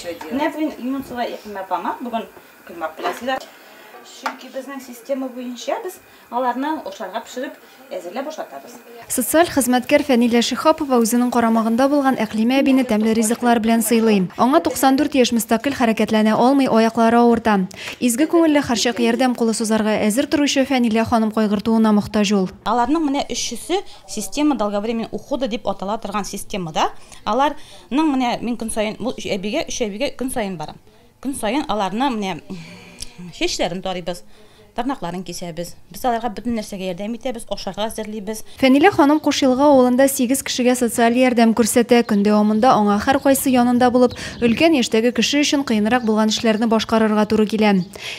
Менә бүген Юнусова Якимә апама бүген коймак беләсезләр. Чөнки безнең система буенча без аларны ашарга пешереп әзерләп ашатабыз. Социаль хезмәткәр Фәнилә Шихапова үзенең карамагында булган Әклимә әбине тәмле ризыклар белән сыйлый. Аңа 94 яшь мөстәкыйль хәрәкәтләнә алмый, аяклары авырта. Изге күңелле, һәрчак ярдәм кулы сузарга әзер торучы Фәнилә ханым кайгыртуына мохтаҗ ул. Аларның менә өчесе система долговременной ухода дип атала торган системада. Алар Ның менә мин көн саен бу өч әбигә, өч әбигә көн саен барам. Көн саен аларны менә чәчләрен тарыйбыз, тырнакларын кисәбез. Без аларга бөтен нәрсәгә ярдәм итәбез, ашарга әзерлибез. Фәнилә ханым Кушъелга авылында сигез кешегә социаль ярдәм күрсәтә. Көн дәвамында аңа һәркайсы янында булып, өлкән яшьтәге кеше өчен кыенрак булган эшләрне башкарырга туры килә.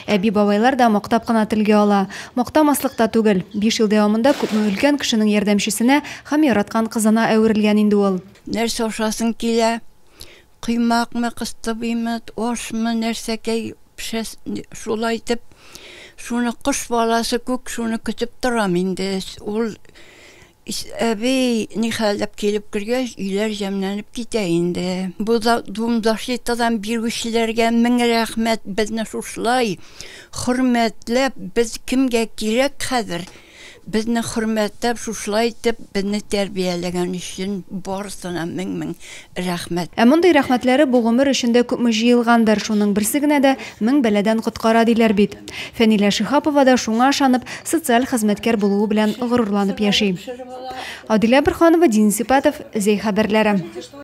Әби-бабайлар да мактап кына телгә ала. Мактамаслык та түгел. Биш ел дәвамында күпме өлкән кешенең ярдәмчесенә һәм яраткан кызына әверелгән инде ул. Нәрсә ашасың килә? Коймакмы, кыстыбыймы, ашмы, нәрсәкәй пешәс, шулай итеп, шуны кош баласы күк шуны көтеп торам инде. Ул әби нихәл дип килеп кергәч, өйләр җәмләнеп китә инде. Бу да Думдашлитадан бирүчеләргә мең рәхмәт, безне шушылай хөрмәтләп, без кемгә кирәк хәзер? Безне хөрмәтләп, шушылай итеп безне тәрбияләгән өчен барысына мең-мең рәхмәт. Ә мондый рәхмәтләре бу гомер эчендә күпме җыелгандыр, шуның берсе генә дә мең бәладән коткара, диләр бит. Фәнилә Шиһапова да шуңа ышанып, социаль хезмәткәр булуы белән горурланып яши. Адилә Борһанова, Дин Сипатов, Зәй хәбәрләре.